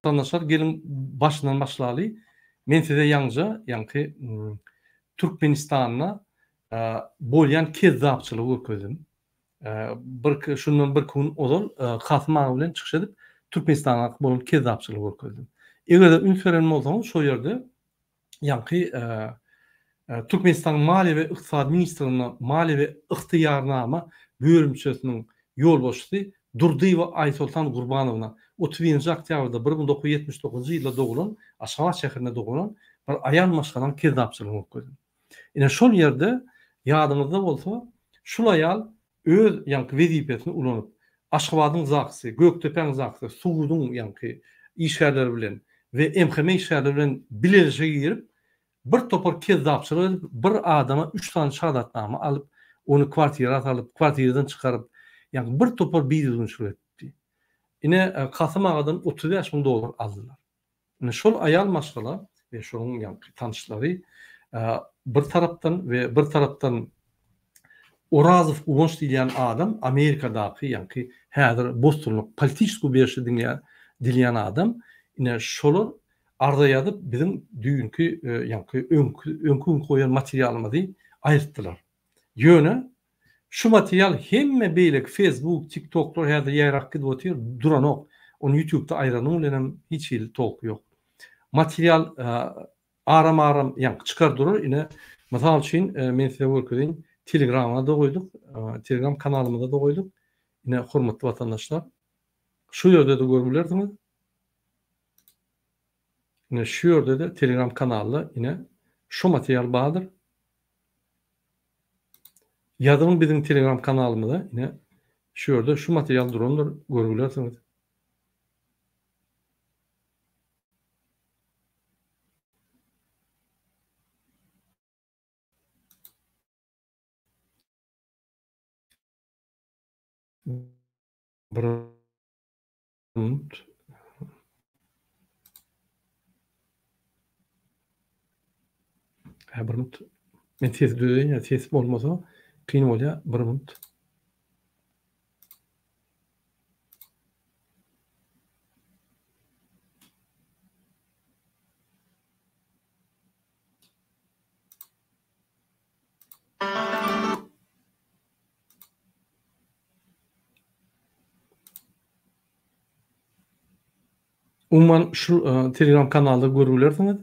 Watandaşlar geliň başyndan başlaly men size ýaňja ýaňky Türkmenistanda bolýan kezzapçylygy görkezdim. Birki, şundan birki gün ozal Kasym aga bilen çykyş edip, Türkmenistana bolan kezzapçylygy görkezdim. Eger-de üns beren bolsaňyz, şo ýerde ýaňky Türkmenistanyň Maliýe we ykdysady ministrliginde Maliýe we ygtyýarnama bölümçesiniň ýolbaşçysy Durdyýewa Aýsoltan Gurbanowna, otuz birinji oktýabrda bir müň dokuz ýüz ýetmiş dokuzynjy ýylda dogulan, Aşgabat şäherinde dogulan bir aýal maşgalanyň kezzapçylygyny görkezdim. Ine şol ýerde ýadyňyzda bolsa şul aýal öz ýaňky wezipesini ulanyp Aşgabadyň Zaksy, Gökdepäň Zaksy, suduň ýaňky işgärleri bilen we MHM işgärleri bilen bilelişige girip bir topar kezzapçylyk edip bir adama üç sany şahadatnama alyp ony kwartira salyp kwartiradan çykaryp ýaňky bir topar bidüzgünçilik edipdi. Ine Kasym agadan otuz bäş müň dollar aldylar. Indi şol aýal maşgala we şonuň ýaňky tanyşlary bir tarapdan we bir tarapdan Orazow Guwanç diýilýän adam Amerikadaky ýaňky häzir bostonlyk politiçeskiý berşi diňleýän dilýän adam ine şolar arza ýazyp biziň düýnki ýaňky öňki öňki gün goýan materialymyzy aýyrtdylar. Ýöne Şu material hemme beýleki Facebook, TikToklar häzir ýaýrap gidip otyr, duranok. Ony ýutubda aýranyň bilenem hiç hili tolky ýok. Material aram-aram ýaňky çykar durar. Ine, mysal üçin, men size görkezeýin, Telegramada goýduk, Telegram kanalymyzada goýduk. Ine, hormatly watandaşlar, şu ýerde-de görüp bilersiňiz. Ine şu ýerde-de Telegram kanalda ine şu material bardyr. Ýazyň biziň Telegram kanalymyza ine şu ýerde şu material durandyr görüp bilersiňiz. Bunt. Hä, bir minut. Men ses düzeýin, ýa ses bolmasa kyn bolýar. Bir minut. Umuman şu Telegram kanalda görüp bilersiňiz.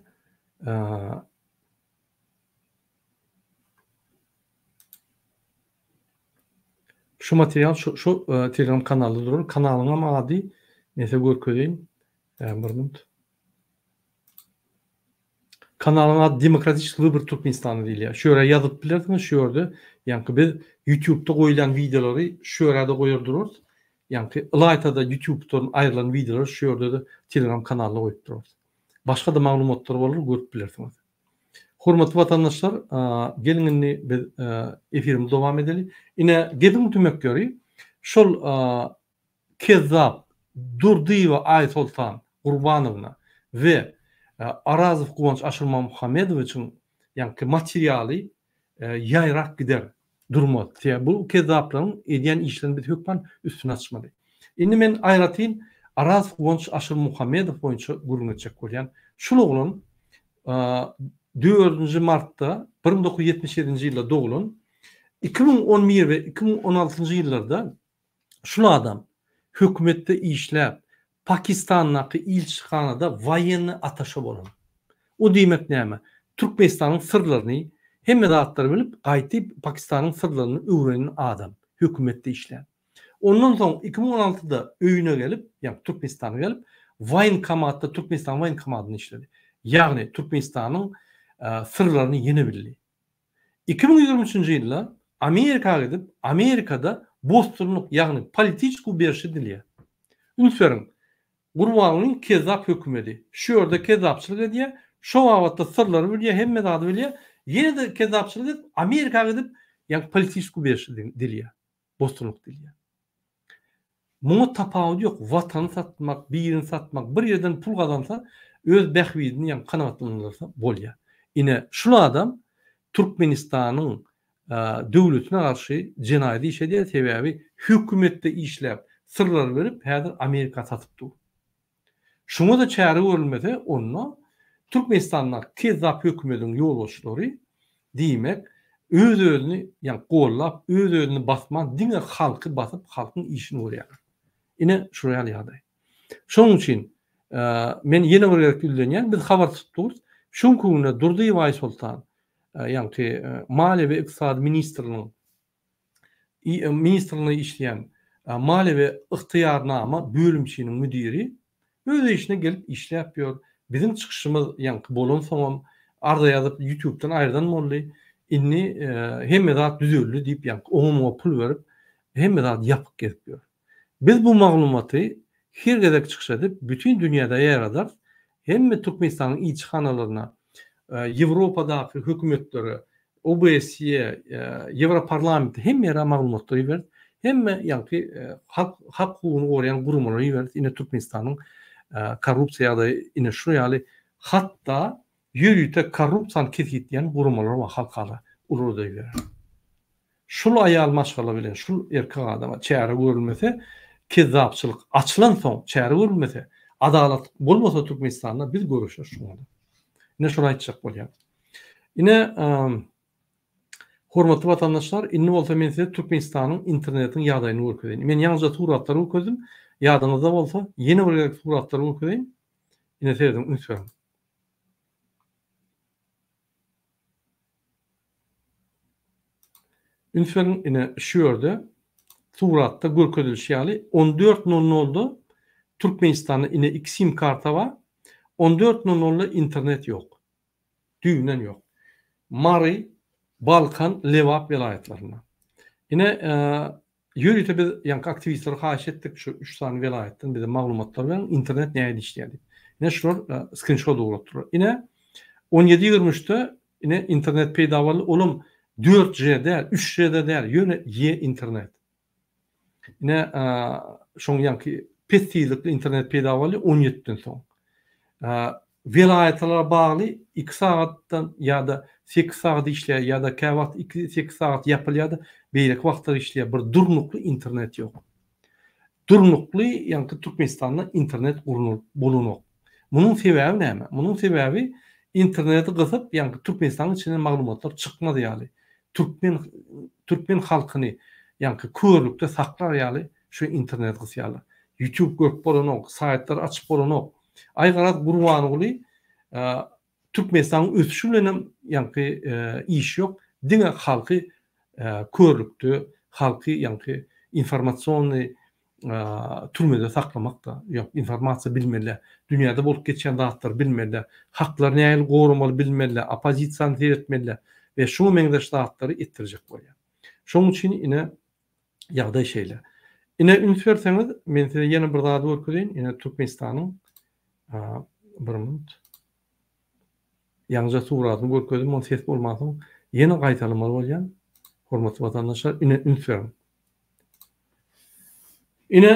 Şu material şu Telegram kanalda durar. Kanalyň hem ady mese görkezeýin. Kanalyň ady Demokratiki Wybor Türkmenistana diýilýär. Şu ýere ýazyp bilersiňiz, şu ýerde, ýaňky biz Ýutubda goýulýan wideolary şu ýere-de goýar durarys. Ýaňky ylaýta-da Ýutubdan aýrylan wideolary şu ýerde-de Telegram kanalda goýup durarys. Başga-da maglumatlar bolar, görüp bilersiňiz. Hormatly watandaşlar, geliň indi biz efirimizi dowam edeli. Ine, geziň tümek ýöri. Şol Kezzap Durdyýewa Aýsoltan Gurbanowna we Orazow Guwanç Aşyrmamhamedowiçiň ýaňky materialy ýaýrap gider, durmaz. Sebäbi bu kezzaplaryň edýän işlerini biz hökman üstüni açmaly. Indi men aýratyn Orazow Guwanç Aşyrmuhammedow boýunça gürrüň etjek bolýan. Şul oglan dördünji martda bir müň dokuz ýüz ýetmiş ýedinji ýylda doglan, iki müň on bir we iki müň on altynjy ýyllarda Şul adam hökümetde işläp, Pakistandaky ilçihanada waýenni ataşe bolan. O diýmek näme? Türkmenistanyň syrlaryny, hemme zatlary bilip, gaýty Pakistanyň syrlaryny öwrenen adam, hökümetde işlän. Ondan soň iki müň on altyda öýüne gelip, ýagny Türkmenistana gelip, waýenkomatda, Türkmenistanyň waýenkomatynda işledi. Ýagny Türkmenistanyň syrlaryny ýene bildi. Iki müň ýigrimi üçünji ýylda Amerika gidip, Amerikada bosdurlyk, ýagny politiçku beriş edilýär. Üns beriň, Gurbangulyň kezzap hökümedi. Şu ýerde kezzapçylyk edýär, şo babatda syrlary bilýär, hemme zady bilýär, ýene-de kezzapçylyk edip, Amerika gidip, ýagny politiçku beriş edilýär. dostunlyk dilýär. Muňa tapawudy ýok, watany satmak, birini satmak, bir ýerden pul gazansa, öz bähbidini ýaňy kanagatlandyrsa bolýar. Ine, şul adam Türkmenistanyň döwletine garşy jenaýat iş edýär, sebäbi hökümetde işläp, syrlar berip, häzir Amerika satyp dur. Şuňa-da çäre görülmese, onda Türkmenistandaky kezzap hökümediň ýolbaşçylary, diýmek, öz-özüni, ýagny gollap, öz-özüni basman, diňe halky basyp, halkyň işini görýärler. Ine, şular ýaly ýagdaý. Şonuň üçin men ýene bir gezek ýüzlenýän, biz habar tutdugys, şu günki günde Durdyýew Aýsoltan, ýagny maliýe we ykdysady ministriniň ministrliginde işleýän maliýe we ygtyýarnama bölümçiniň müdiri öz işine gelip işläp ýör. Biziň çykyşymyz ýaňky bolansoňam arza ýazyp ýutubdan aýyrdan boldy. Indi hemme zat düzeldi diýip ýaňky oňa-muňa pul berip hemme zady ýapyk gezip ýör. Biz bu maglumaty her gezek çykyş edip bütin dünýäde ýaýradarys, hemme Türkmenistanyň ilçihanalaryna, Ýewropadaky hökümetlere, OBSE-ýe, Ýewroparlamente hemme ýere maglumatlary iberis, hemme ýaňky halk hak hukugyny goraýan guramalara iberis ine Türkmenistanyň korrupsiýa ýagdaýy ine şu ýaly hatda ýörite korrupsiýany kesgitleýän guramalar bar halkara uruda ibereris. Şul aýal maşgala bilen şul erkek adama çäre görülmese kezzapçylyk açylan soň çäre görülmese adalat bolmasa Türkmenistanda biz göreşer şuňa da. Ine şuny aýtjak bolýan. Ine Hormatly watandaşlar, indi bolsa men size Türkmenistanyň internetiň ýagdaýyny görkezeýin. Men ýaňyja suratlary görkezdim. Ýadyňyzda bolsa, ýene bir gezek suratlary görkezeýin. Ine serediň, üns beriň. Üns beriň, ine, şu ýerde suratda görkezilişi ýaly, on dört nol nolda Türkmenistanda, ine, iki sim karta bar, on dört nol nolda internet ýok. Düýbünden ýok. Mary, Balkan, Lebap welaýatlarynda. Ine, Ýörite biz ýaňky aktiwistlere haýyş etdik, şu üç sany welaýatdan bize maglumatlar beriň, internet nähili işleýär diýip. Ine şular skrinşot ugratdylar. Ine, on ýedi ýigrimi üçde ine internet peýda boldy, olam dört G däl, üç G-de däl, ýöne ýe internet. Ine, şoň ýaňky pes tizlikli internet peýda boldy on ýediden soň. Welaýatlara bagly iki sagatdan ýa-da sekiz sagat işleýär ýa-da käwagt iki sekiz sagat ýapylýar-da beýleki wagtlar işleýär bir durnukly internet ýok. Durnukly ýaňky Türkmenistanda internet gurnalyp bolanok. Munuň sebäbi näme? Munuň sebäbi interneti gysyp ýaňky Türkmenistanyň içinden maglumatlar çykmaz ýaly türkmen türkmen halkyny ýaňky körlükde saklar ýaly şu interneti gysýarlar. Ýutub görüp bolanok, saýtlary açyp bolanok. Aýgaraz Gurbanguly Türkmenistanyň ösüşi bilen hem ýaňky iş ýok, diňe halky körlükde, halky ýaňky informasionnyý türmede saklamakda, ýok informasiýa bilmeli, dünýäde bolup geçýän zatlary bilmeli, haklary nähili goramaly bilmeli, oppozisiýany seretmeli we şuňa meňzeş zatlary etdirjek bolýar. Şonuň üçin ine Ýagdaý şeýle. Ine, üns berseňiz, men size ýene bir zady görkezeýin. Ine, Türkmenistanyň bir minut. Ýaňyja suratyny görkezdim, ony ses bolmansoň ýene gaýtalamaly bolýan. Hormatly watandaşlar, ine, üns beriň. Ine,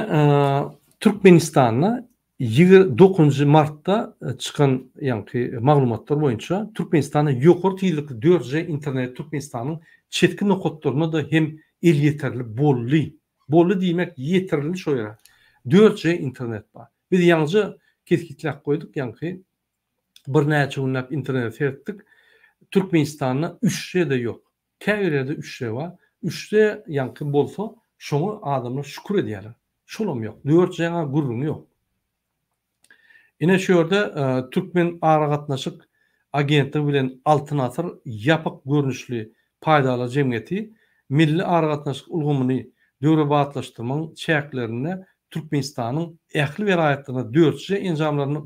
Türkmenistanda Ýigrimi dokuzynjy martda çykan ýaňky maglumatlar boýunça, Türkmenistanda ýokary tizlikli dört G internet Türkmenistanyň çetki nokatlarynda-da hem elýeterli boldy. Boldy diýmek, ýetirildi şo ýere. Dört G internet bar. Biz ýaňyja kesgitläp goýduk, ýaňky birnäçe günläp internete seretdik, Türkmenistanda üç G-de ýok. Käbir ýerde üçde bar. Üçde ýaňky bolsa, şoňa adamlar şükür edýärler. Şolam ýok. Dört jaňa gürrüň ýok. Ine şu ýerde Türkmen aragatnaşyk agentligi bilen Altyn asyr ýapyk görnüşli paýdarlar jemgyýeti milli aragatnaşyk ulgamyny döwrebaplaşdyrmagyň çäklerinde Türkmenistanyň ähli welaýatlarynda dörtje enjamlaryny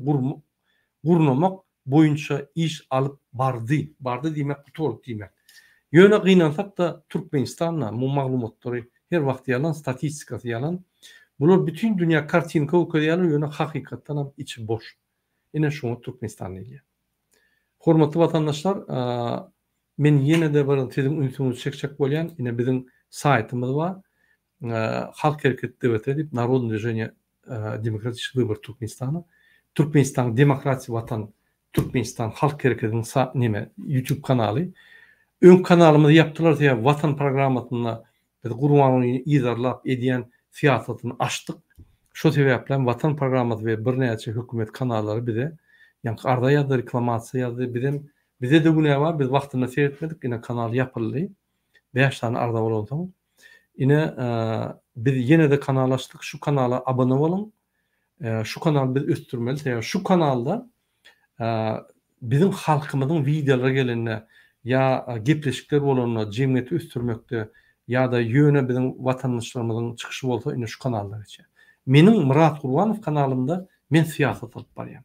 gurnamak boýunça iş alyp bardy. Bardy diýmek guty boldy diýmek. Ýöne gynansak-da Türkmenistanda bu maglumatlary her wagt ýalan, statistikasy ýalan. Bular bütin dünýä kartinka görkezýärler ýöne hakykatdanam içi boş. Ine şuňa Türkmenistan diýilýär. Hormatly watandaşlar men ýene-de bir siziň ünsüňizi çekjek bolýan ine biziň saýtymyz bar. Halk Hereket DVT diýip, Narodne Dvijeniýe Demokratiçi Wybory Türkmenistana, Türkmenistan Demokratiýa Watan Türkmenistan Halk Hereketiniň sa neme, YouTube kanaly. Öňki kanalymyzy ýapdylar, sebäbi Watan programmasynda biz Gurbangulyny yzarlap edýän syýasatyny açdyk. Şo sebäpli hem Watan programmasy we birnäçe hökümet kanallary bize ýaňky arza ýazdy, reklamasiýa ýazdy. Biz hem, bizde-de günä bar, biz wagtynda seretmedik, ine kanal ýapyldy. Bäş sany arza bolansoň. Ine biz ýenede kanal açdyk şu kanala abone boluň şu kanal biz ösdürmeli sebäbi şu kanalda biziň halkymyzyň wideolary gelende ýa gepleşikler bolanda jemgyýeti ösdürmekde ýa-da ýöne biziň watandaşlarymyzyň çykyşy bolsa ine şu kanalda geçýär. Meniň Myrat Gurbanow kanalymda men syýasat alyp barýan.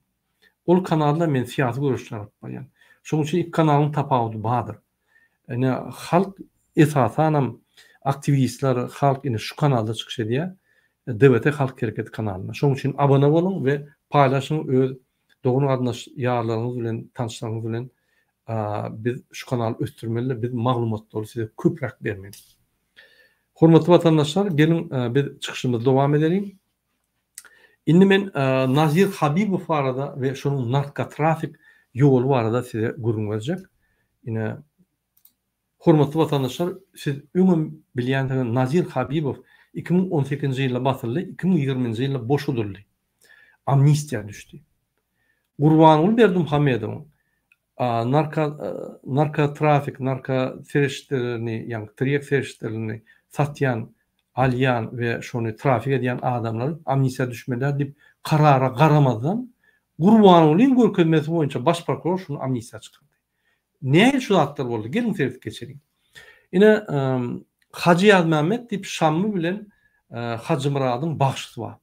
Ol kanalda men syýasy göreşler alyp barýan. Şonuň üçin iki kanalyň tapawudy bardyr. Ine, halk esasanam aktiwistler, halk indi şu kanalda çykyş edýär, DWT Halk Hereketi kanalynda. Şonuň üçin abone boluň we paýlaşyň öz dogan-garyndaş ýarlaryňyz bilen, tanşlaryňyz bilen. Biz şu kanaly ösdürmeli, biz maglumatlary size köpräk bermeli. Hormatly watandaşlar, geliň biz çykyşymyzy dowam edeliň. Indi men Nazir Habibow barada we şonuň narkotrafik ýoly barada size gürrüň berjek. Ine, hormatly watandaşlar, siz öňem bilýänsiňiz, Nazir Habibow iki müň on sekizinji ýylda basyldy, iki müň ýigrimi nji ýylda boşadyldy, amnistiýa düşdi. Gurbanguly Berdimuhamedowyň A. Narka, narkotrafik, narka serişdelerini, ýagny tirýek serişdelerini satýan, alýan we şony trafik edýän adamlar amnistiýa düşmeliä diýip karara garamazdan, Gurbangulyň görkezmesi boýunça baş prokuror şuny amnistiýa çykardy. Nähili şu zatlar boldy? Geliň seredip geçeliň. Ine, Hajy Ýazmämmet diýip Şammy bilen Hajymyradyň bagşysy bar.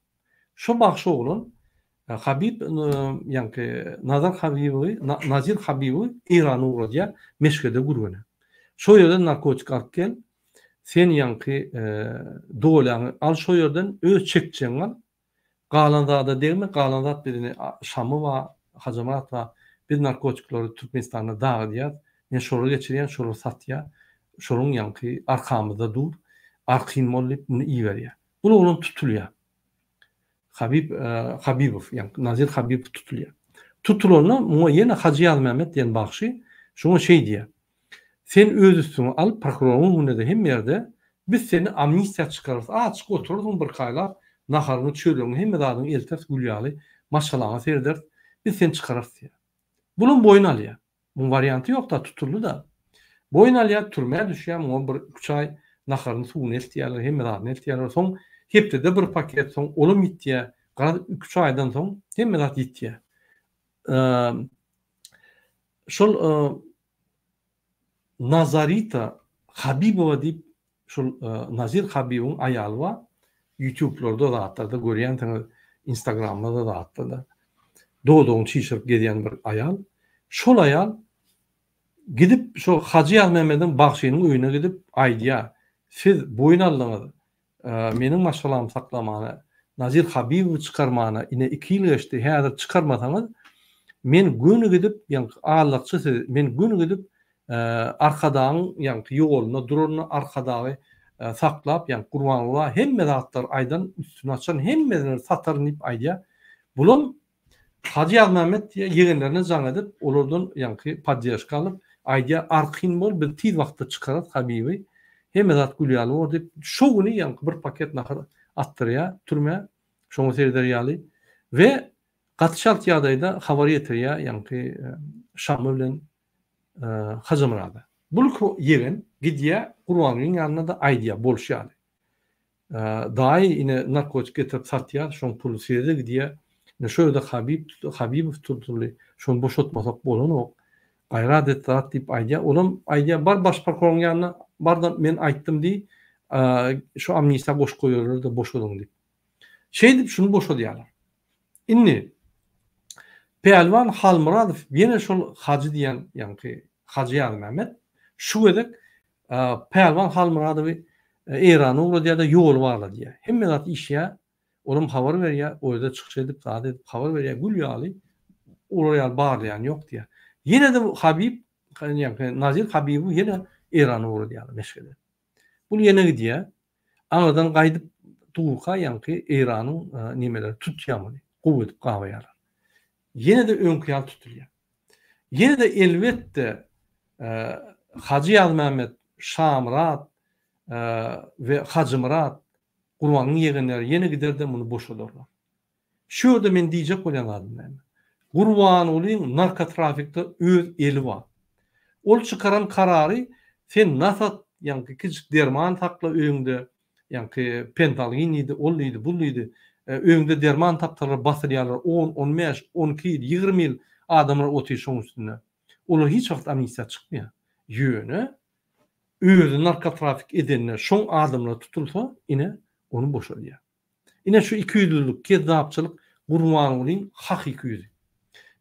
Şo bagşy oglan Habib ýaňky Nazar Habibowy, Nazir Habibowy Eýrana ugradýar, Meşgede gürgene. Şo ýerden narkotik alyp gel, sen ýaňky dolaňy al şo ýerden, öz çekjegiňi al, galan zada degme, galan zat biziň Şamy bar, Hajamyrat bar, biz narkotiklary Türkmenistanda dagydýas, men şolara geçirýän, şolar satýar, şolaryň ýaňky arkamyzda dur, arkaýyn bol diýip, muny iberýär. Bul oglan tutulýar. Habib Habibow, ýagny Nazir Habibow tutulýar. Tutulanda muňa ýene Hajy Ýazmämmet diýen bagşy şoňa şeý diýýär, Sen öz üstüňe al, prokuroryň öňünde-de hemme ýerde biz seni amnistiýa çykararys, açyk oturarsyň birkaýlap, naharyňy, çöregiňi, hemme zadyňy elters gül ýaly, maşgalaňa serederis, biz seni çykararys diýýär. Bulam boýun alýar. Muň warianty ýokda tutuldyda. Boýun alýar türmä düşýär muňa bir üç aý naharyny suwuny eltýärler hemme zadyny eltýärler soň hepdede bir paket soň olam ýitýär garaz iki üç aýdan soň hemme zat ýitýär şol Nazarita Habibowa diýip Şul Nazir Habibiň aýaly bar ýutublarda zatlarda görýänsiňiz instagramlarda zatlarda dodagyny çişirip gezýän bir aýal şol aýal gidip şo Hajy Ýazmämmediň bagşynyň öýüne gidip aýdýa siz boýun aldyňyz meniň maşgalamy saklamana Nazir Habibowy çykarmana ine iki ýyl geçdi häzir çykarmasaňyz men göni gidip ýaňky allakçy siz men göni gidip Arkadagyň ýaňky ýoluna duranyna Arkadagy saklap, ýaňky Gurbanguly hemme zatlary aýdan, üstüni açan, hemmesini sataryn diýip aýdýar. Bulam Hajy Ýazmämmet diýýär, ýegenlerine jaň edip, olardan ýaňky podderžka alyp, aýdýar, Argyn bol, biz tiz wagtda çykarys Habibi, hemme zat gül ýaly bor diýip, şo güni ýaňky bir paket nahar atdyrýar türmä, şoňa sereder ýaly we gaty çalt ýagdaýda habar ýetirýär ýaňky Şamy bilen Hajymyrada. Bulky ýegen gidýär, Gurbangeldiň ýanyna-da aýdýar, bolşy ýaly. Daýy ine narkotik getirip satýar, şoň puly size-de gidýär. Ine şo ýerde Habib, Habibow turdy, şony boşatmasak bolanok. Gaýrat et, zat diýip aýdýar. Olam aýdýar, bar baş prokuroryň ýanyna, bar-da men aýtdym diý, şu amnistiýa goşup goýarlar-da, boşadyň diýip. Şeýdip şuny boşadýarlar. Indi Pälwan Halmyradow ýene şol Hajy diýen ýaňky Hajy Ýazmämmet şu gezek Pälwan Halmyradowy Eýrana ugradýar-da ýoly bagladýar. Hemme zat işýär. Olam habar berýär, o ýerde çykyş edip, zat edip habar berýär, gül ýaly, olar ýaly barlaýan ýok diýýär. Ýene-de Habib, ýaňky Nazir Habibowy ýene Eýrana ugradýarlar Meşhede. Bul ýene gidýä. Aňyrdan gaýdyp durka ýaňky Eýranyň nimeleri tutýa muny. Gowy edip gabaýarlar. Ýene-de öňki ýaly tutulýa. Ýene-de elbetde Hajy Ýazmämmet, Şamyrat we Hajymyrat Gurbanyň ýegenleri ýene gider-de muny boşadarlar. Şu ýerde men diýjek bolýan zadym näme? Gurbangulyň narkotrafikde öz eli bar. Ol çykaran karary sen nasat, ýaňky kiçijik derman sakla öýüňde, ýaňky pentalgin diýdi, ol diýdi, bul diýdi, öýüňde derman tapsalar basylýarlar on, on bäş, on iki ýyl, ýigrimi ýyl adamlar otyr şoň üstünde. Olar hiç wagt amnistiýa çykmaýar. Ýöne özi narkotrafik edende şoň adamlar tutulsa ine ony boşadýar. Ine şu ikiýüzlülik, kezzapçylyk Gurbangulyň hakyky ýüzi.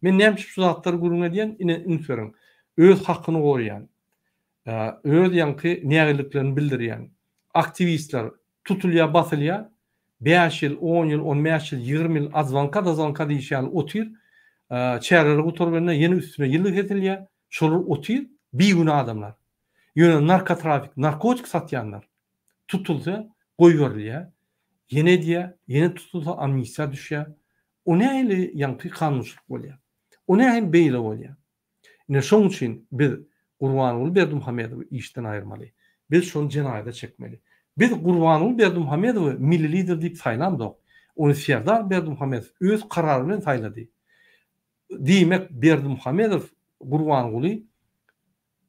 Men näme üçin şu zatlary gürrüň edýän, ine üns beriň. Öz hakyny goraýan, öz ýaňky nägiliklerini bildirýän aktiwistler tutulýar, basylýar, bäş ýyl, on ýyl, on bäş ýyl, ýigrimi ýyl adzwanka-dazwanka diýşi ýaly otyr, çäreleri gutarganda ýene üstüne ýyl sesilýär, şolar otyr, bigünä adamlar. Ýöne narkotrafik, narkotik satýanlar, tutulsa goýberilýär, ýene edýär, ýene tutulsa amnistiýa düşýär. O nähili ýaňky kanunçylyk bolýar? O nähili beýle bolýar? Ine şoň üçin biz Gurbanguly Berdimuhamedowy işden aýyrmaly. Biz şony jenaýata çekmeli. Biz Gurbanguly Berdimuhamedowy milli lider diýip saýlamzok. Ony Serdar Berdimuhamedow öz karary bilen saýlady. Diýmek Berdimuhamedow Gurbanguly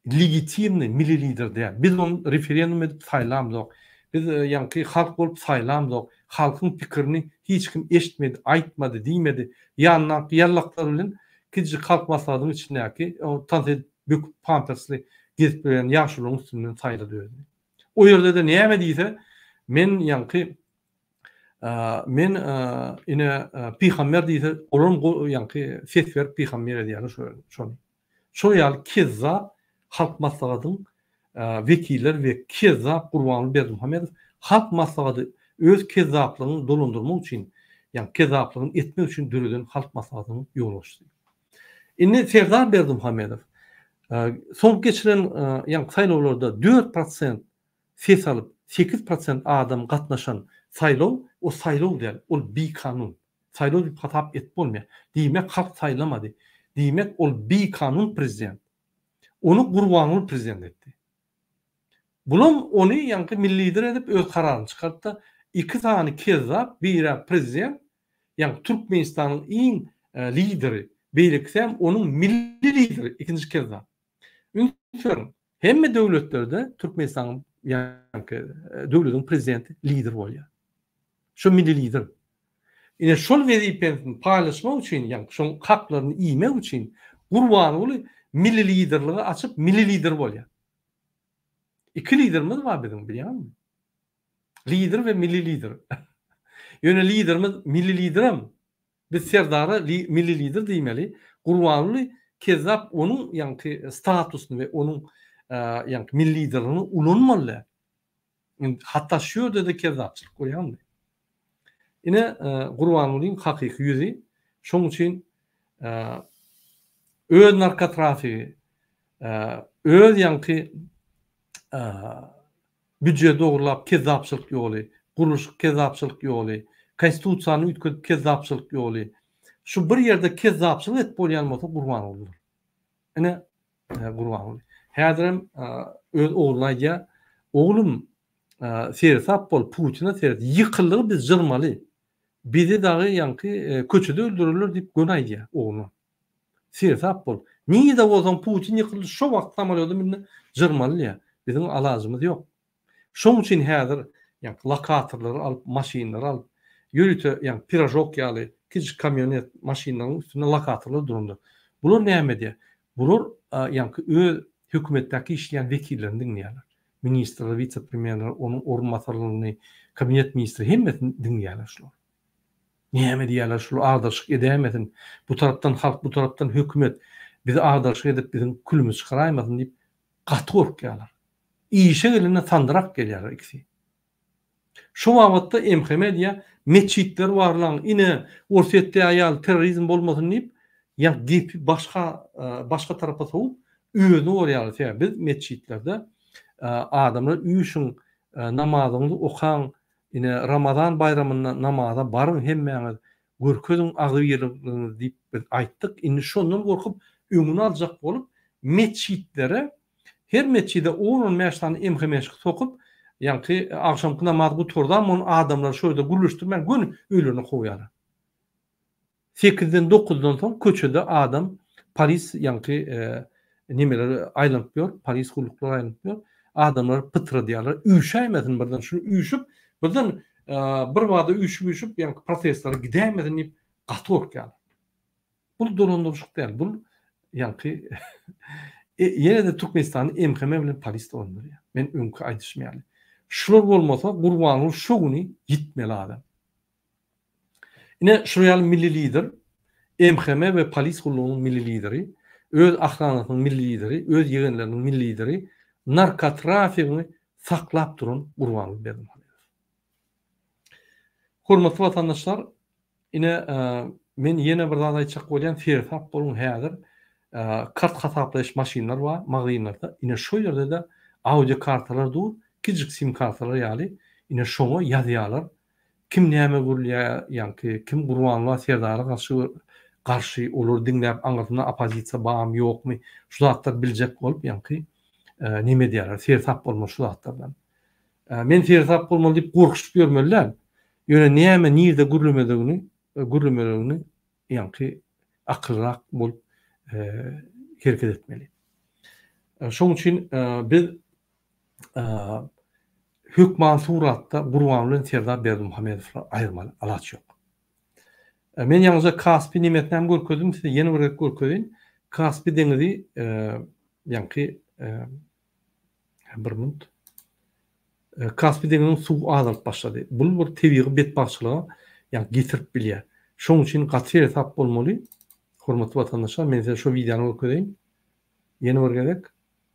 legitimny milli lider däl. Biz ony referendum edip saýlamzok. Biz ýaňky halk bolup saýlamzok. Halkyň pikirini hiç kim eşitmedi, aýtmady, diýmedi. Ýanyndaky ýallaklar bilen Kiçijik Halk Maslahatynyň içindäki o tans edip böküp pampersli gezip ýörýän ýaşulyň üstünden saýlady özüni. O ýerde-de näme diýse men ýaňky men ine pygamber diýse olam ýaňky ses berip pygamber edýärler şony. Şol ýaly kezzap Halk Maslahatyň wekiller we kezzap Gurbanguly Berdimuhamedow Halk Maslahaty öz kezzaplygyny dolandyrmak üçin, ýagny kezzaplygyny etmek üçin döreden Halk Maslahatynyň ýolbaşçysy. Indi Serdar Berdimuhamedow soňky geçiren ýagny saýlawlarda dört prosent ses alyp, sekiz prosent adam gatnaşan saýlaw, o saýlaw däl, ol bikanun. Saýlaw diýip hasap edip bolmaýar. Diýmek halk saýlamady. Diýmek ol bikanun prezident. Ony Gurbanguly prezident etdi. Bulam ony ýaňky milli lider edip öz kararyny çykartdy. Iki sany kezzap biri prezident ýaňky Türkmenistanyň iň lideri beýlekisem onuň milli lideri ikinji kezzap. Üns beriň Hemme döwletlerde Türkmenistanyň ýaňky döwletiň prezidenti lider bolýar. Şu milli lider. Ine şol wezipesini paýlaşmak üçin, ýaňky şoň haklaryny iýmek üçin Gurbanguly milli liderligi açyp milli lider bolýar. Iki liderimiz bar biziň bilýäňizmi? Lider we milli lider. Ýöne liderimiz milli liderem Biz Serdara Milli Lider diýmeli. Gurbanguly kezzap onuň ýaňky statusyny we onuň ýaňky Milli Liderligini ulanmalydy. Indi hatda şu ýerde-de kezzapçylyk bolýandy. Ine Gurbangulyň hakyky ýüzi. Şonuň üçin öz narkotrafigi, öz ýaňky Büje dogrulap kezzapçylyk ýoly, gurluşyk kezzapçylyk ýoly, konstitusiýany üýtgedip kezzapçylyk ýoly. Şu bir ýerde kezzapçylyk edip bolýan bolsa Gurbangulydyr. Ine Gurbanguly. Häzirem öz ogluna aýdýar, Oglum, seresap bol, Putine seret, ýykyldygy biz jyrmaly. Bizi dagy ýaňky köçede öldürerler diýip göni aýdýar ogluna. Seresap bol. Nirede bolsaň Putin ýykyldy şo wagt samolýoda münde jyrmalya. Biziň alajymyz ýok. Şoň üçin häzir ýaňky lokatorlary alyp, maşynlary alyp, ýörite ýaňky piražok ýaly kiçijik kamýonet maşynlaryň üstünde lokatorlar durandyr. Bular näme edýär? Bular ýaňky öz hökümetdäki işleýän wekillerini diňleýärler. Ministrleri, wise-premýerleri, onuň orunbasarlaryny, kabinet ministri hemmesini diňleýärler şular. Näme diýýärler şul agdarşyk edäýmesin, bu tarapdan halk bu tarapdan hökümet bizi agdarşyk edip biziň külümizi çykaraýmasyn diýip gaty gorkýarlar. Işe gelende sandyrak gelýärler ikisi. Şo babatda MHM diýýär metjitleri barlaň ine Orsýetdäi ýaly terrorizm bolmasyn diýip ýa gepi başga başga tarapa sowup özüni gorýarlar sebäbi biz metjitlerde adamlar üýşüň namazyňyzy okaň Ine, Ramazan baýramynda namaza baryň hemmäňiz, görkeziň agzybirligiňizi diýip biz aýtdyk. Indi şondan gorkup, öňüni aljak bolup, metjitlere, her metjide on-on bäş sany emhemeşki sokup, ýaňky agşamky namazy gutardamon adamlary şo ýerde gürleşdirmän göni öýlerine kowýarlar. Sekizden dokuzdan soň köçede adam polis ýaňky nemeler aýlanyp ýör, polis gulluklar aýlanyp ýör. Adamlar pytradýarlar, üýşäýmesin birden şu üýşüp, birden birbada üýşüp-üýşüp ýaňky protestler gidäýmesin diýip gaty gorkýarlar. Bul dolandyryşyk däl, bul ýaňky ýene-de Türkmenistany MHM bilen polis dolandyrýar. Men öňki aýdyşym ýaly. Şular bolmasa Gurbanguly şu güni ýitmeli adam. Ine, şular ýaly milli lider, MHM we polis gullugynyň milli lideri, öz ahranasynyň milli lideri, öz ýegenleriniň milli lideri, narkotrafigiňi saklap duran Gurbanguly Berdimuhamedow. Hormatly watandaşlar, ine, men ýene bir zat aýtjak bolýan, seresap boluň, häzir kart hasaplaýyş maşynlar bar magazynlarda, ine, şo ýerde-de audio kartalar dur, kiçijik sim kartalar ýaly, ine, şoňa ýazýarlar, Kim näme gürlýär ýaňky kim Gurbanguly Serdara garşy garşy olary diňläp aňyrsynda opozisiýa barmy ýokmy şu zatlar biljek bolup ýaňky neme edýärler seresap bolmaly şu zatlardan men seresap bolmaly diýip gorkuşyp ýörmeli däl ýöne näme nirde gürlemedigini gürlemeligini ýaňky akyllyrak bolup hereket etmeli şoň üçin biz hökman suratda Gurban bilen Serdar Berdimuhamedowlar aýyrmaly alaç ýok. Men ýaňyja Kaspi nimetinem görkezdim size ýene bir gezek görkezeýin. Kaspi deňizi ýaňky bir minut. Kaspi deňiziniň suwy azalyp başlady. Bu bir tebigy betbagtçylyga ýa getirip bilýär. Şoň üçin gaty seresap bolmaly. Hormatly watandaşlar, men size şu wideony görkezeýin. Ýene bir gezek.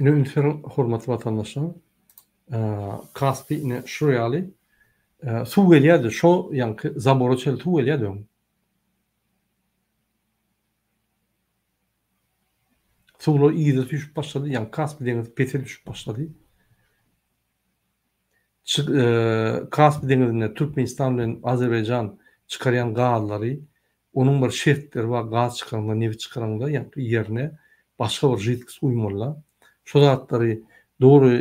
Ine ünsüň hormatly watandaşlarym Kaspi ine şu ýaly suw gelýärdi şo ýanky zabora çenli suw gelýärdi öň. Suwlar yza süýşüp başlady ýa Kaspi deňizi pese düşüp başlady. Kaspi deňizinde Türkmenistan bilen Azerbaýjan çykarýan gazlary, onuň bir şertleri bar, gaz çykaryňda, nebit çykaryňda ýerine başga bir židkost guýmaly-da. Şo zatlary dogry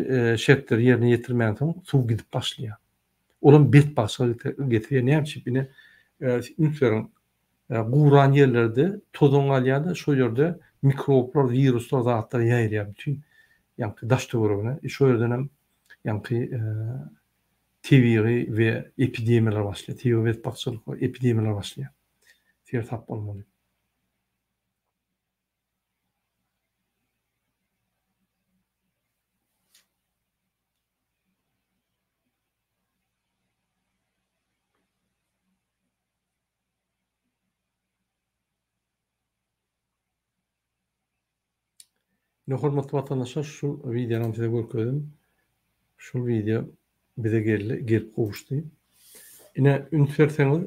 şertleri ýerine ýetirmänsoň, suw gidip başlaýar. Olam betbagtçylyga getirýär. Näme üçin? Ine, üns beriň, Guran ýerlerde tozan galýar-da, şol ýerde mikroblar, wiruslar, zatlar ýaýraýar bütin ýaňky daş-töweregine. Şo ýerdenem ýaňky tebigy we epidemiýalar başlaýar. Tebigy betbagtçylyk we epidemiýalar başlaýar. Sersap bolmaly. Ine hormatly watandaşlar şu wideonam size görkezdim. Şul wideo bize geldi, gelip gowuşdy. Ine üns berseňiz,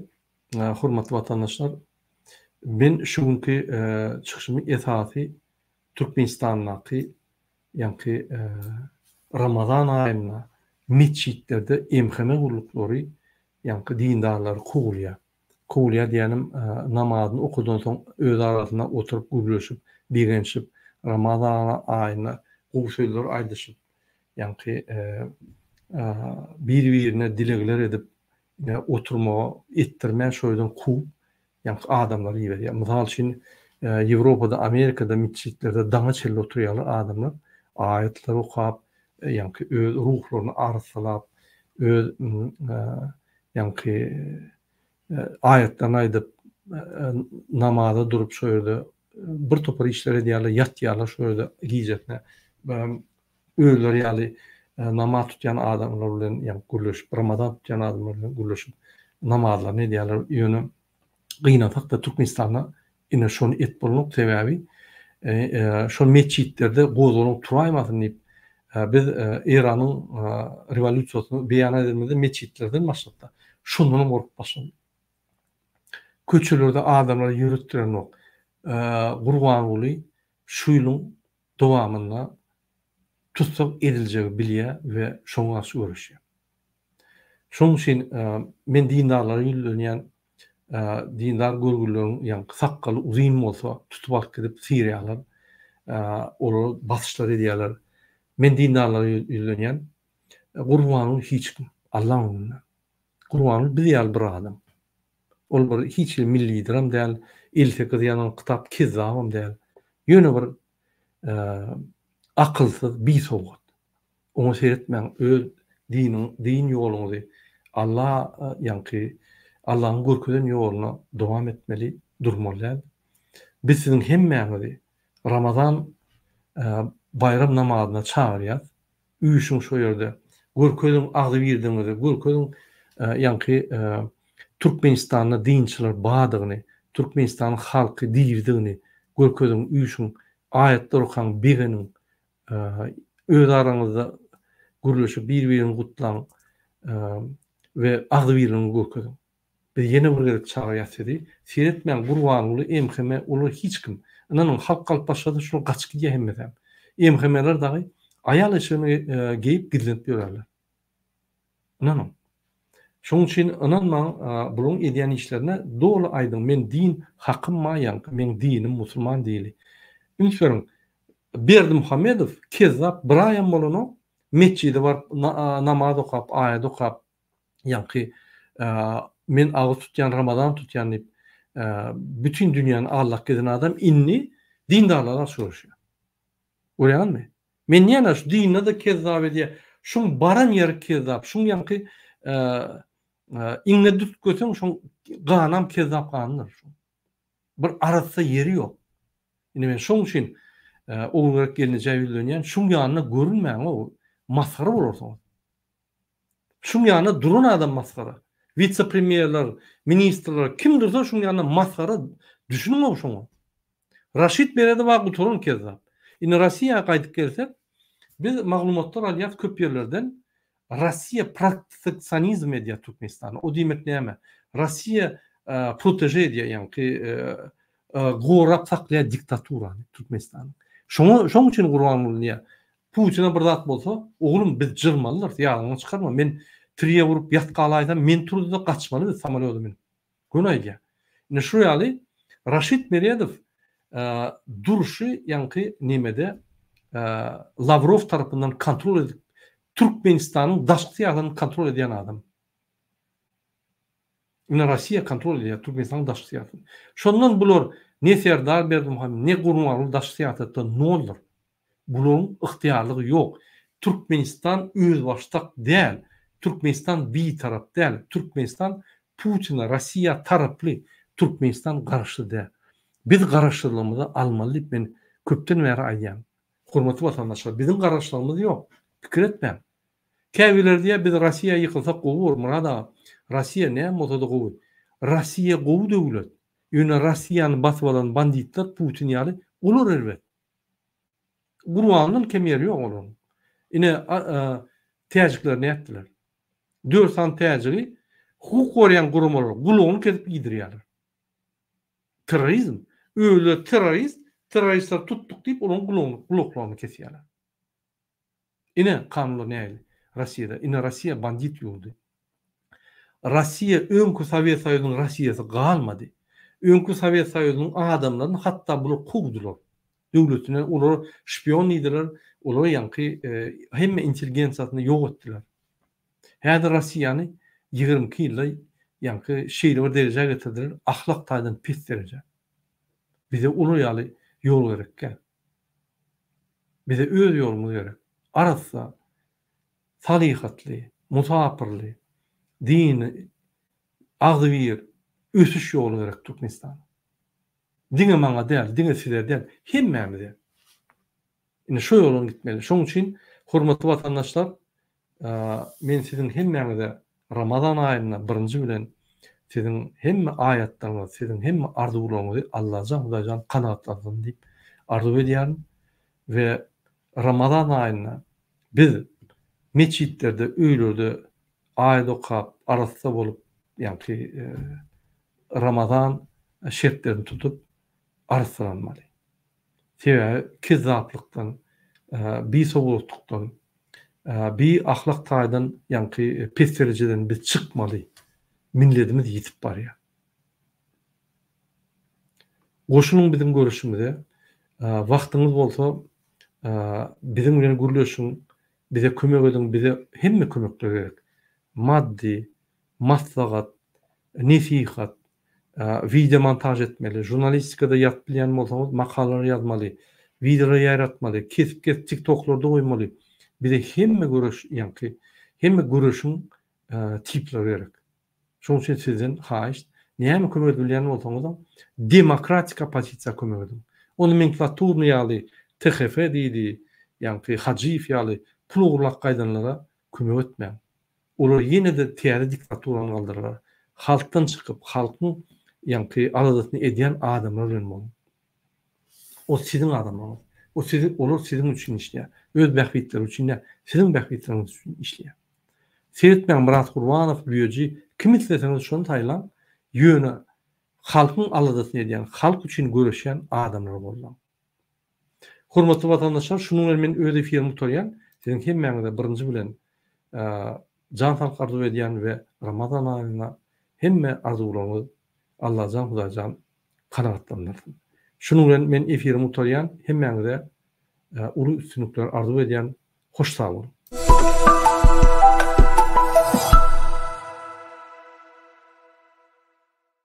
hormatly watandaşlar, men şu günki çykyşymy esasy Türkmenistandaky Ýaňky Ramazan aýynda metjitlerde MHM gulluklary ýaňky dindarlary kowulýar. Kowulýar diýýänim, namazyny okadan soň öz arasynda oturyp gürleşip, bigençip, Ramazan aýynda gowy sözler aýdyşyp, ýaňky bir-birine dilegler edip oturmagy etdirmän şo ýerden kowup, Ýaňky adamlary iberýär. Mysal üçin, Ýewropada, Amerikada metjitlerde daňa çenli oturýarlar adamlar, aýatlar okap, ýaňky öz ruhlaryny arassalap, öz ýaňky aýatlaryny aýdyp, namaza durup, şo ýerde birtopar işler edýärler, ýatýarlar şo ýerde gijesine. özleri ýaly namaz tutýan adamlar bilen ýa gürleşip, Ramazan tutýan adamlar bilen gürleşip namazlaryny edýärler. Ýöne gynansakda Türkmenistanda ine şony et bolmak sebäbi şol metjitlerde gozgalaň turaýmasyn diýip biz Eýranyň rewolýusiýasyny beýan edemizde metjitlerden başlapda şondanam gorkup başladyk. Köçelerde adamlary ýöretdirenok. Gurbanguly şu ýylyň dowamynda tussag ediljegi bilýär we şoňa garşy göreşýär. Şonuň üçin men dindarlara ýüzlenýän dindar görgülileriň ýaňky sakgaly uzyn bolsa tutup alyp gidip syrýarlar, olara basyşlar edýärler. Men dindarlara ýüzlenýän, Gurbanyň hiç kim, Allaň öňünde. Gurbanguly biz ýaly bir adam. Ol bir hiç hili milli lideram däl, elli sekiz ýazan kitap kezzabam däl. Ýöne bir akylsyz bisowgat. Oňa seretmäň öz diniň din ýoluňyzy Alla ýaňky Allanyň görkezen ýoluna dowam etmeli durmaly däl. Biz siziň hemmäňizi Ramazan baýram namazyna çagyrýas. Üýşüň şo ýerde. Görkeziň agzybirdigiňizi. Görkeziň ýaňky Türkmenistanda dinçiler bardygyny, Türkmenistanyň halky diridigini görkeziň, üýşüň, aýatlar okaň, begeniň. Öz araňyzda gürleşip bir-biriňizi gutlaň we agzybirligiňizi görkeziň. Biz ýene bir gezek çagyrýas sizi, seretmäň Gurbanguly MHM olar hiç kim, ynanyň halk galyp başlasa şular gaçyp gidýär hemmesem. MHMler dagy aýal eşigini geýip gizlenip ýörerler. Ynanyň. Şonuň üçin ynanmaň bularyň edýän işlerine doly aýdyň men din hakym ma ýaňky meň dinim musulman dini. Üns beriň Berdimuhamedow kezzap bir aýam bolanok metjide baryp namaz okap aýat okap Ýaňky men agyz tutýan Ramazan tutýan diýip bütin dünýäni aldap gezen adam indi dindarlara garşy göreşýär. Görýäňizmi? Men näme şu dinde-de kezzap edýär. Şuň baran ýeri kezzap. Şuň ýaňky iňňe dürtgeseň şoň ganam kezzap ganydyr. Bir arassa ýeri ýok. Indi men şoň üçin Ogulgerek gelne jäwüzlenýän. Şuň ýanyna görünmäň-ow. Masgara bolarsyňyz. Şuň ýanyna duran adam masgara. Witse-premýerler, ministrler kim dursa şuň ýanyna masgara. Düşüniň-ow şoňa. Raşid Meredow-a gutaran kezzap. Indi Rossiýa gaýdyp gelsek, biz maglumatlar alýas köp ýerlerden, Rossiýa proteksionizm edýär Türkmenistana. O diýmek näme? Rossiýa proteže edýär, ýaňky gorap saklaýar diktaturany Türkmenistanyň. Şoňa şoň üçin Gurbanguly diýýär, Putina bir zat bolsa, Oglum, biz jyrmalydyrys, ýadyňdan çykarma, men tirýe urup ýat galaýsam, men turuzda gaçmaly biz samolýoda münüp. Göni aýdýa. Indi şu ýaly Raşid Meredow durşy ýaňky nemede Lawrow tarapyndan kontrol edip Türkmenistanyň daşky syýasatyny kontrol edýän adam. Indi Rossiýa kontrol edýär Türkmenistanyň daşky syýasatyny. Şondan bular ne Serdar Berdimuhamedow, ne Gurbanguly daşky syýasatda noldyr. Bularyň ygtyýarlygy ýok. Türkmenistan özbaşdak däl. Türkmenistan bitarap däl. Türkmenistan Putine, Rossiýa taraply. Türkmenistan garaşsyz däl. Biz garaşsyzlygymyzy almaly diýip men köpden bäri aýdýan. Hormatly watandaşlar, biziň garaşsyzlygymyz ýok. Pikir etmäň. Käbirleri diýýär, biz Rossiýa ýykylsak gowy bor, Myrat aga. Rossiýa näme bolsada gowy. Rossiýa gowy döwlet. Ýöne Rossiýany basyp alan banditler Putin ýaly olar erbet. Gurbandan kem ýeri ýok olaryň. Ine, täjikler nätdiler? Dört sany täjigi hukuk goraýan guramalar gulagyny kesip iýdirýärler. Terrorizm. Özleri terrorist, terroristleri tutduk diýip olaryň gulagyny, gulaklaryny kesýärler. Ine kanunlar nähili Rossiýada. Ine Rossiýa bandit ýurdy. Rossiýa öňki Sowet Soýuzynyň Rossiýasy galmady. Öňki Sowet Soýuzynyň adamlaryny hatda bular kowdular. Döwletinden olary şpion diýdiler, olary ýaňky hemme intelligensiýasyny ýok etdiler. Häzir Rossiýany ýigrimi iki ýylda ýaňky şeýle bir derejä getirdiler, ahlak taýdan pes derejä. Bize olar ýaly ýol gerek däl. Bize öz ýolumyz gerek. Arassa, salyhatly, musapyrly, dini, agzybir ösüş ýoly gerek Türkmenistana. Diňe maňa däl, diňe size däl, hemmämize. Indi şo ýolan gitmeli. Şonuň üçin, hormatly watandaşlar, Men siziň hemmäňize Ramazan aýynda birinji bilen siziň hemme aýatlaryňyzy, siziň hemme arzuwlaryňyzy Allajan Hudaýjan kanagatlandyrsyn diýip arzuw edýärin we Ramazan aýynda biz metjitlerde, öýlerde aýat okap, arassa bolup, ýagny Ramazan şertlerini tutup arassalanmaly. Sebäbi kezzaplykdan, bisowgatlykdan, biahlak taýdan ýaňky pes derejeden biz çykmaly. Milletimiz ýitip barýar. Goşulyň biziň göreşimize. Wagtyňyz bolsa biziň bilen gürleşiň, bize kömek ediň, bize hemme kömekler gerek. Maddy, maslahat, nesihat, wideo montaž etmeli, žurnalistikada ýazyp bilýän bolsaňyz makalalar ýazmaly, wideolar ýaýratmaly, kesip kesip tiktoklarda goýmaly, bize hemme göreş ýaňky hemme göreşiň tiplary gerek. Şonuň üçin sizden haýyşt, näme kömek edip bilýän bolsaňyzam demokratik oppozisiýa kömek ediň. Ony menklaturny ýaly THF diýdi, ýaňky Hajyýew ýaly pul ogurlap gaýdanlara kömek etmäň. Olar ýene-de täze diktaturany galdyrarlar. Halkdan çykyp, halkyň ýaňky aladasyny edýän adamlar bilen boluň. Ol siziň adamlaryňyz. O siziň, olar siziň üçin işleýär. Öz bähbitleri üçin däl, siziň bähbitleriňiz üçin işleýär. Seretmäň Myrat Gurbanow, Büýeji, kimi isleseňiz şony saýlaň, ýöne halkyň aladasyny edýän, halk üçin göreşýän adamlary goldaň. Hormatly watandaşlar şunuň bilen men öz efirimi gutarýan. Siziň hemmäňize birinji bilen jan saglyk arzuw edýän we Ramazan aýyna hemme arzuwlaryňyz Allajan Hudaýjan kanagatlandyrsyn. Şunuň bilen men efirimi gutarýan. Hemmäňize uly üstünlikler arzuw edýän. Hoş sag boluň.